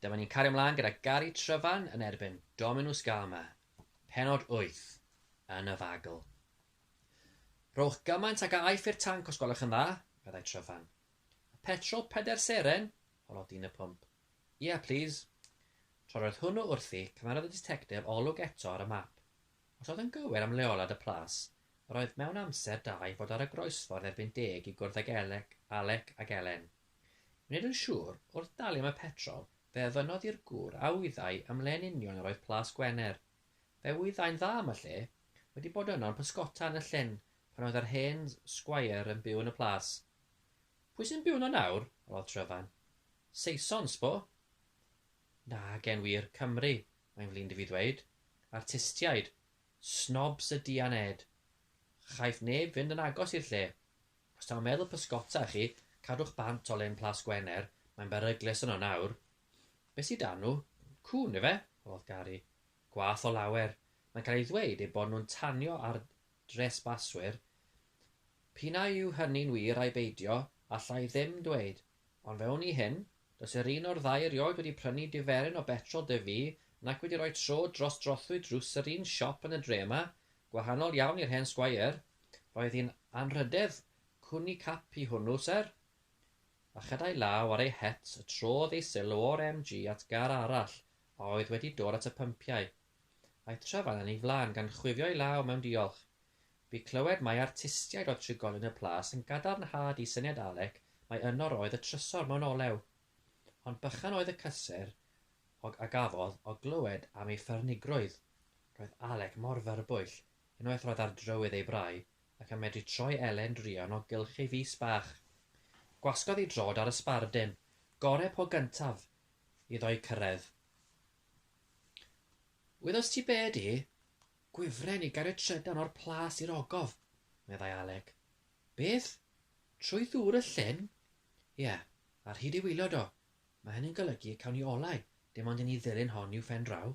Dyma ni'n cario mlaen gyda Gary Tryfan yn erbyn Dominus Gama, penod 8 yn y fagl. Rhowch gymaint ag a aiff i'r tanc os gwelwch yn dda, meddai Tryfan. Y petrol peder seren? holodd dyn y pwmp. Ie, plis. Tra roedd hwnnw wrthi, cymerodd y ditectif olwg eto ar y map. Os oedd yn gywir am leoliad y plas, yr oedd mewn amser da i fod ar y groesffordd erbyn deg i gwrdd ag Elec, Alec ac Elen. Nid yn siŵr, wrth dalu am y petrol, fe ofynnodd i'r gŵr a wyddai am le yn union yr oedd Plas Gwener. Fe wyddai'n dda am y lle, wedi bod yno yn pysgota yn y llyn pan oedd yr hen sgweier yn byw yn y plas. Pwy sy'n byw yno nawr? roddodd Tryfan. Saeson, s'bo? Nag e'n wir, Cymry, mae'n flin 'da fi ddweud. Artistiaid. Snobs ydi Aned. Chaiff neb fynd yn agos i'r lle. Os taw meddwl pysgota chi, cadwch bant o Lyn Plas Gwener, mae'n beryglus yno nawr. Be sy 'da nhw? Cŵn, ife? holodd Gary. Gwath o lawer. Mae'n cael ei ddweud eu bod nhw'n tanio ar dresbaswyr. P'un a yw hynny'n wir ai beidio, alla i ddim dweud. Ond fe wn i hyn, does yr un o'r ddau erioed wedi prynu diferyn o betrol de fi, nac wedi rhoi tro dros drothwy drws yr un siop yn y dre yma, gwahanol iawn i'r hen sgweier. Roedd hi'n anrhydedd cwni cap i hwnnw, syr. A chadai law ar ei het y trodd ei sylw o'r MG at gar arall a oedd wedi dod at y pympiau, Mae Trefan yn ei flaen gan chwifio ei law mewn diolch. Bu clywed mai artistiaid oedd trigolyn y plas yn gadarnhad i syniad Alec mai yno roedd y trysor mewn olew. Ond bychan oedd y cysur og a gafodd o glywed am ei ffyrnigrwydd. Roedd Alec mor fyrbwyll, unwaith roedd ar drywydd ei brau, ac yn medru troi Elen druan o gylch ei fys bach. Gwasgodd ei drod ar y sbardun, gore po gyntaf iddo eu cyrraedd. Wyddost ti be ydy? Gwifren i gario trydan o'r plas i'r ogof, meddai Alec. Beth? Trwy ddŵr y llyn? Ie, ar hyd ei wylod o. Mae hynny'n golygu y cawn ni olau, dim ond i ni ddilyn hon i'w phen draw.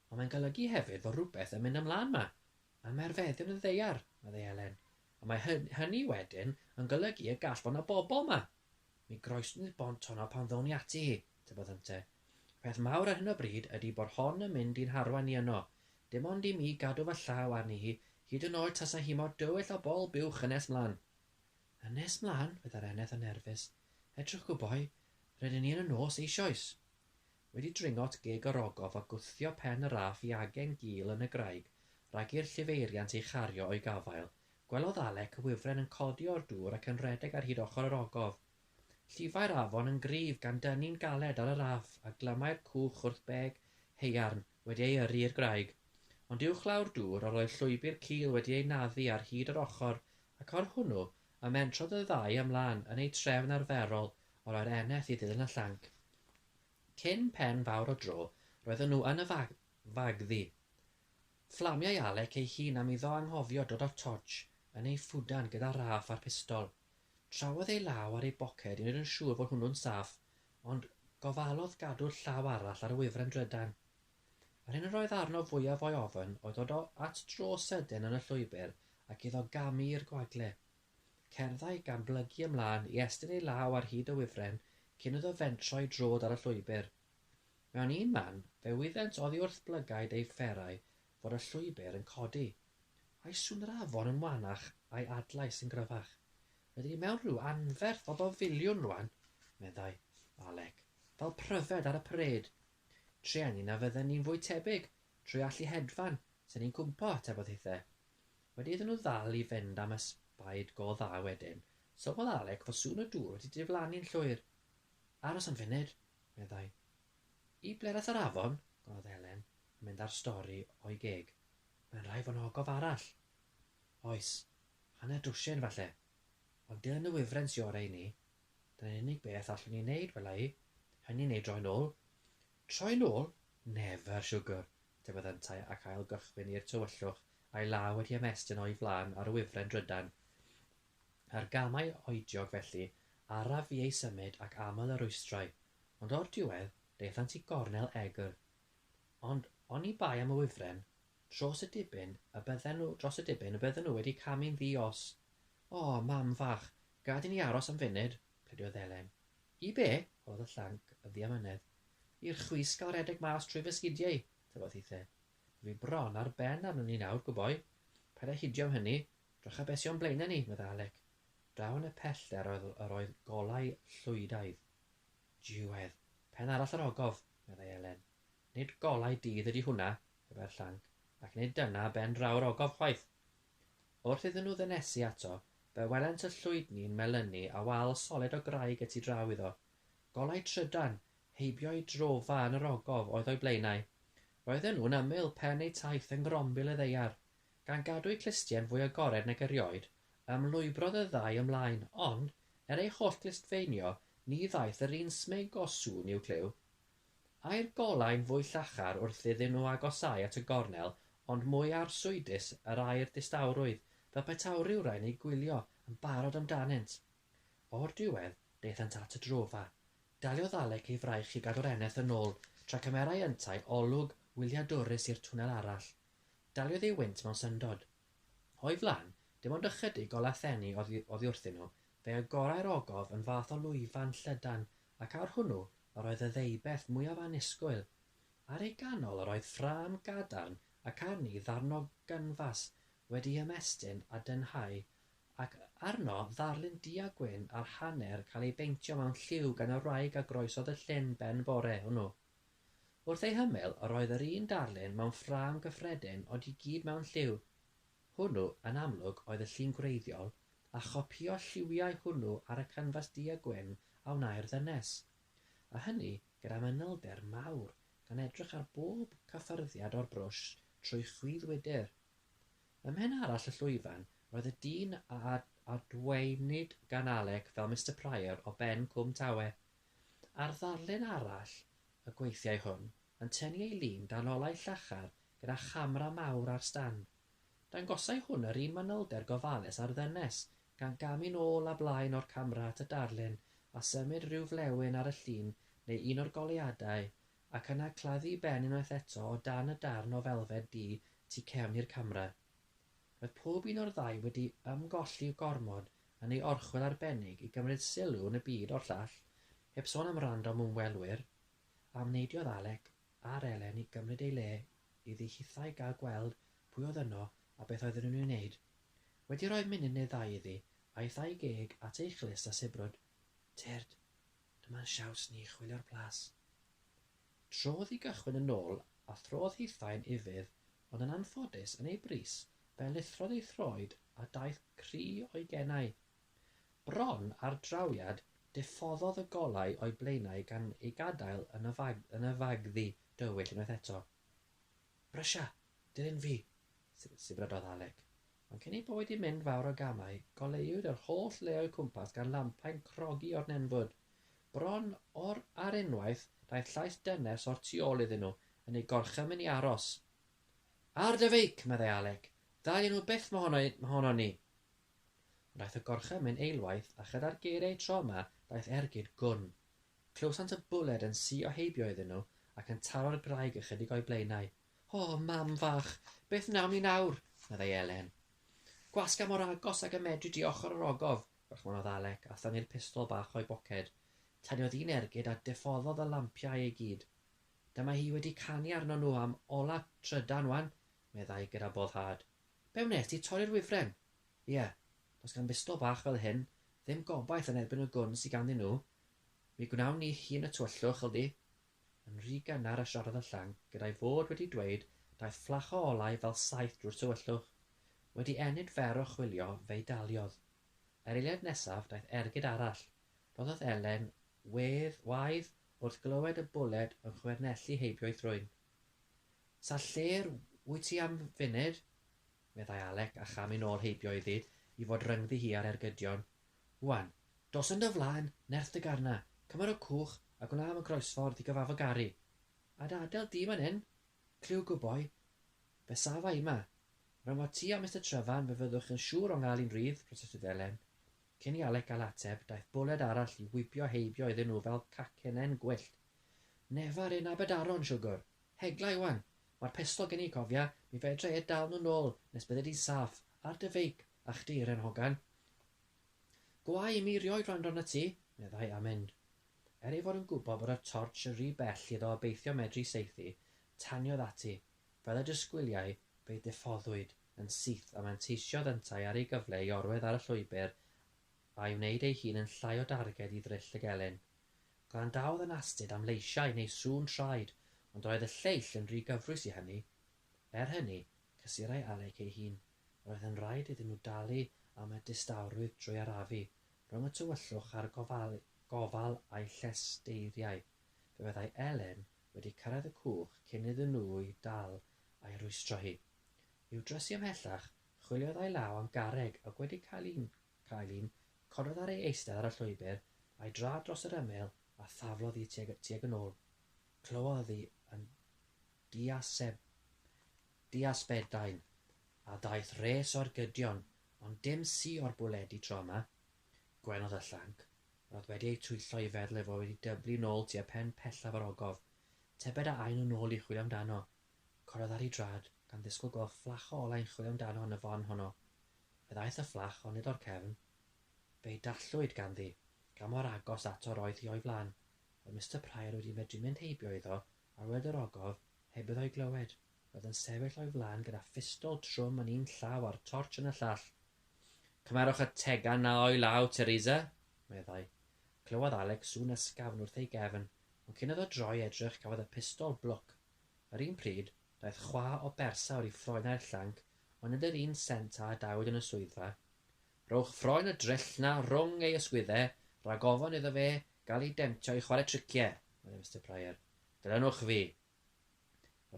Ond mae'n golygu hefyd fod rhywbeth yn mynd ymlaen ma. Mae merfeddion yn y ddaear, meddai Elen, a mae hynny wedyn yn golygu y gall fod 'na bobl 'ma. Mi groesnwyd bont honno pan ddown ni ati hi, tybed ynte. Y peth mawr ar hyn o bryd ydy bod hon yn mynd i'n harwain ni yno. Dim ond i mi gadw fy llaw arni hi, hyd yn oed tasa hi mor dywyll o bol buwch yn nes mlan. Yn nes mlan? Fe ddar Eneth yn nerfus. Edrychwch y boi, rydyn ni yn y nos eisioes. Wedi dringo at geg yr ogof a gwthio pen y raff i agen gul yn y graig rhag i'r llifeiriant ei chario o'i gafael, Gwelodd Alec y wifren yn codi o'r dŵr ac yn rhedeg ar hyd ochr yr ogof. Llifai'r afon yn gryf gan dynnu'n galed ar y raff a glymai'r cwch wrth beg haearn wedi ei yrru i'r graig. Ond uwchlaw'r dŵr yr oedd llwybr cul wedi ei naddu ar hyd yr ochr ac ar hwnnw y mentrodd y ddau ymlaen yn eu trefn arferol o roi'r eneth i ddilyn y llanc. Cyn pen fawr o dro roedden nhw yn y fagddu. Fflamiai Alec ei hun am iddo anghofio dod â'r tortsh yn ei ffwdan gyda Ralph a'r pistol. Trawodd ei law ar ei boced i wneud yn siŵr fod hwnnw'n saff, ond gofalodd gadw'r llaw arall ar y wifren drydan. Yr hyn yr oedd arno fwyaf o'i ofn oedd dod o at dro sydyn yn y llwybr ac iddo gamu i'r gwagle. Cerddai gan blygu ymlân i estyn ei law ar hyd y wifren cyn iddo fentro i droed ar y llwybr. Mewn un man, fe wyddent oddi wrth blygaid eu fferau fod y llwybr yn codi. A'i sŵn yr afon yn wanach a'i adlais yn gryfach. Rydyn ni mewn rhyw anferth o bafiliwn rwan, meddai Alec, fel pryfed ar y parêd. Trueni na fydden ni'n fwy tebyg, trwy allu hedfan, se'n ni'n cwmpo, tybed hithe. Wedi iddyn nhw ddal i fynd am ysbaid go dda wedyn, sylwodd Alec fod sŵn y dŵr wedi diflannu'n llwyr. Aros am funud, meddai. I ble aeth yr afon? gofynnodd Helen, yn mynd â'r stori o'i geg. Mae'n rhaid fod 'na ogof arall. Oes, hanner dwsin, falle. Ond dilyn y wifren sy orau i ni. Dyna'r unig beth allwn ni wneud, wela i. Hynny neu droi nôl. Troi nôl? Never, siwgwr! atebodd yntau ac ail gychwyn i'r tywyllwch, a'i law wedi ymestyn o'i flaen ar y wifren drydan. Ar gamau oediog felly araf fu eu symud ac aml y rwystrau, ond o'r diwedd daethant i gornel egr. Ond oni bai am y wifren, tros y dibyn y bydden nhw, dros y dibyn y bydden nhw wedi camu'n ddi-os. O, mam fach, gad i ni aros am funud, pleidiodd Elen. I be? holodd y llanc yn ddiamynedd. I'r chwisg gael redeg mas trwy fy sgidiau, tybotithe. Dwi bron ar ben arnon ni nawr, gwboi. Paid â hidio am hynny. 'Drycha be' sy o'n blaena' ni, medda Alec. Draw yn y pellter oedd yr oedd golau Llwydaidd. Diwedd! Pen arall yr ogof! meddai Elen. Nid golau dydd ydi hwnna, pe bai'r llanc, ac nid dyna ben draw'r ogof chwaith! Wrth iddyn nhw ddynesu ato, fe welent y llwydni'n melynu a wal solid o graig y tu draw iddo. Golau trydan! Heibio'i drofa yn yr ogof oedd o'i blaenau. Roedden nhw'n ymyl pen eu taith yng ngrombil y ddaear. Gan gadw'u clustie'n fwy agored nag erioed, ymlwybrodd y ddau ymlaen, ond, er eu holl glustfeinio, ni ddaeth yr un smug o sŵn i'w clyw. Ai'r golau'n fwy llachar wrth iddyn nhw agosáu at y gornel, ond mwy arswydus yr ai'r distawrwydd, fel petai rhywrai yn eu gwylio, yn barod amdanynt. O'r diwedd, daethant at y drofa. Daliodd Alec ei fraich i gadw'r eneth yn ôl tra cymerai yntau olwg wyliadwrus i'r twnnel arall. Daliodd ei wynt mewn syndod. O'i flaen, dim ond ychydig golau thenu oddi oddi wrthyn nhw, fe agorai'r ogof yn fath o lwyfan llydan ac ar hwnnw yr oedd y ddeubeth mwyaf annisgwyl. Ar ei ganol yr oedd ffrâm gadarn ac arni ddarn o ganfas wedi'i ymestyn a dynhau ac arno ddarlun du-a-gwyn ar hanner cael ei beintio mewn lliw gan y wraig a groesodd y llyn ben bore hwnnw. Wrth ei hymyl, yr oedd yr un darlun mewn ffrâm gyffredin ond i gyd mewn lliw. Hwnnw, yn amlwg, oedd y llun gwreiddiol, a chopïo lliwiau hwnnw ar y canfas du-a-gwyn a wnâi'r ddynes. A hynny, gyda manylder mawr, gan edrych ar bob cyffyrddiad o'r brwsh trwy chwith wydr. Ym mhen arall y llwyfan, roedd y dyn a adwaenid gan Alec fel Mister Prior o ben Cwm Tawe. Ar ddarlun arall y gweithiai hwn, yn tynnu ei lun dan olau llachar gyda chamera mawr ar stand. Dangosai hwn yr un manylder gofalus a'r ddynes, gan gamu'n ôl a blaen o'r camera at y darlun a symud rhyw flewyn ar y llun neu un o'r goleuadau ac yna claddu ben unwaith eto o dan y darn o felfed du tu cefn i'r camera. Roedd pob un o'r ddau wedi ymgolli gormod yn ei orchwyl arbennig i gymryd sylw yn y byd o'r llall, heb sôn am random ymwelwyr, a wneidiodd Alec a'r Elen i gymryd ei le iddi hithau gael gweld pwy oedd yno a beth oedden nhw'n ei wneud. Wedi rhoi munud neu ddau iddi, aeth â'i geg at ei chlust a sibrwd. Tyrd! Dyma'n siawns ni chwilio'r plas. Trodd i gychwyn yn ôl a throdd hithau'n ufudd ond yn anffodus yn ei bris fe lithrodd ei throed a daeth cri o'i genau. Bron ar drawiad diffoddodd y golau o'i blaenau gan ei gadael yn y fagddu dywyll unwaith eto. Brysia! Dilyn fi! Sibrydodd Alec. Ond cyn ei bod i mynd fawr o gamau, goleuwyd yr holl le o'u cwmpas gan lampau'n crogi o'r nenfwd. Bron o'r ar unwaith, daeth llais dynes o'r tu ôl iddyn nhw, yn eu gorchymyn i aros. Ar dy feic! meddai Alec. Dalian nhw byth mohono mohonon ni! Ond aeth y gorchymyn eilwaith, a chyda'r geiriau tro yma, daeth ergyd gwn. Clywsant y bwled yn suo heibio iddyn nhw, ac yn taro'r graig ychydig o'u blaenau. O, mam fach, beth wnawn ni nawr? meddai Elen. Gwasga mor agos ag y medri di ochr yr ogof, dychmynodd Alec a thynnu'r pistol bach o'i boced. Taniodd un ergyd a diffoddodd y lampiau i gyd. Dyma hi wedi canu arnon nhw am ola trydan wan, meddai gyda boddhad. Be wnes ti, torri'r wifren? Ie, does gan bistol bach fel hyn ddim gobaith yn erbyn y gwn sy ganddyn nhw. Mi gwnawn ni hun y tywyllwch, Ldy. yn rhy gynnar a siarad yn llanc, gyda'i fod wedi dweud daeth fflach o olau fel saeth drwy'r tywyllwch. Wedi ennyd fer o chwilio, fe'i daliodd. Yr eiliad nesaf, daeth ergyd arall. Rhoddodd Elen wedd waedd wrth glywed y bwled yn chwernellu heibio'i thrwyn. Sa lle'r wyt ti am funud? meddai Alec a chamu'n ôl heibio iddi i fod rhyngddi hi a'r ergydion. Wan, dos yn dy flaen, nerth dy garna, cymar o cwch a gwna am y groesffordd i gyfafo Gari. A dy adael di man 'yn? Clyw good boy. Fe safa i 'ma. Ran fo ti a Mister Tryfan fe fyddwch yn siŵr o 'ngal un rydd, protestodd Elen. Cyn i Alec gael ateb, daeth bwled arall i wibio heibio iddyn nhw fel cacennau'n gwyllt. Nefar ein Aberdaron, siwgwr! Hegla i wan! Mae'r pestol gen i, cofia, mi fedra i e dal nhw nôl nes bydde di'n saff, ar dy feic, A chdi, Ren Hogan? Go au i mi rioed wrando arnat ti, meddai Amin. Er ei fod yn gwybod bod y tortsh yn rhy bell iddo obeithio medru saethu, taniodd ati, fel y disgwyliai, fe'i diffoddwyd yn syth a manteisiodd yntau ar ei gyfle i orwedd ar y llwybr a'i wneud ei hun yn llai o darged i ddryll y gelyn. Gwrandaodd yn astud am leisiau neu sŵn traed, ond roedd y lleill yn rhy gyfrwys i hynny. Er hynny, cysurai Alec ei hun. Roedd yn rhaid iddyn nhw dalu am y distawrwydd drwy arafu rhwng y tywyllwch a'r gofal gofal a'i llesteiriau. Fe fyddai Elen wedi cyrraedd y cwch cyn iddyn nhw'i dal a'i rwystro hi. I'w drysu ymhellach, chwiliodd a'i law am garreg ac wedi cael un, cael un, cododd ar ei eistedd ar y llwybr a'i draed dros yr ymyl a thaflodd hi tuag tuag yn ôl. Clywodd hi yn diaseb Di a Sbedain, a daeth res o'r gydion, ond dim si o'r bwledi tro 'ma. Gwenodd y llanc, roedd wedi eu twyllo i feddwl ei fod wedi dyblu nôl tua pen pellaf yr ogof. Tybed a aen nhw nôl i chwilio amdano? Corodd ar ei drad, gan ddisgwyl gweld fflach o olau'n chwilio amdano yn y fon honno. Fe ddaeth y fflach, ond nid o'r cefn. Fe'i dallwyd ganddi, gan mor agos ato roedd hi o'i flan. Oedd Mister Prior wedi medru mynd heibio iddo, ar wled yr ogof, Heb iddo ei glywed, roedd yn sefyll o'i flaen gyda phistol trwm yn un llaw a'r tortsh yn y llall. Cymerwch y tegan 'na o'i law, Teresa, meddai. Clywodd Alec sŵn ysgafn wrth ei gefn, ond cyn iddo droi edrych cafodd y pistol blwc. Yr un pryd, daeth chwa o bersawr i ffroenau'r llanc, ond nid yr un sent â adawyd yn y swyddfa. Rhowch ffroen y dryll 'na rhwng ei ysgwyddau, rhag ofn iddo fe gael ei demtio i chwarae tricie, meddai Mister Prior. Dilynwch fi!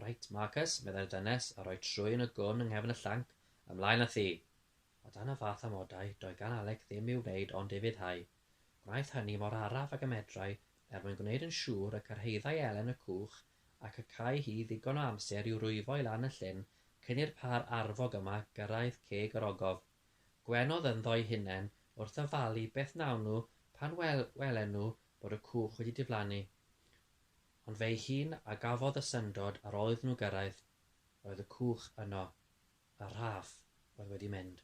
Reit, Marcus, meddai'r dynes, a rhoi trwyn y gwn yng nghefn y llanc, ymlaen â thi! O dan y fath amodau, doedd gan Alec ddim i'w wneud ond ufuddhau. Gwnaeth hynny mor araf ag y medrai, er mwyn gwneud yn siŵr y cyrhaeddai Elen y cwch, ac y câi hi ddigon o amser i'w rwyfo i lan y llyn cyn i'r pâr arfog yma gyrraedd ceg yr ogof. Gwenodd ynddo'i hunain wrth ddyfalu beth wnawn nhw pan wel- welen nhw bod y cwch wedi diflannu, ond fe'i hun a gafodd y syndod ar ôl iddyn nhw gyrraedd, oedd y cwch yno, y rhaff oedd wedi mynd.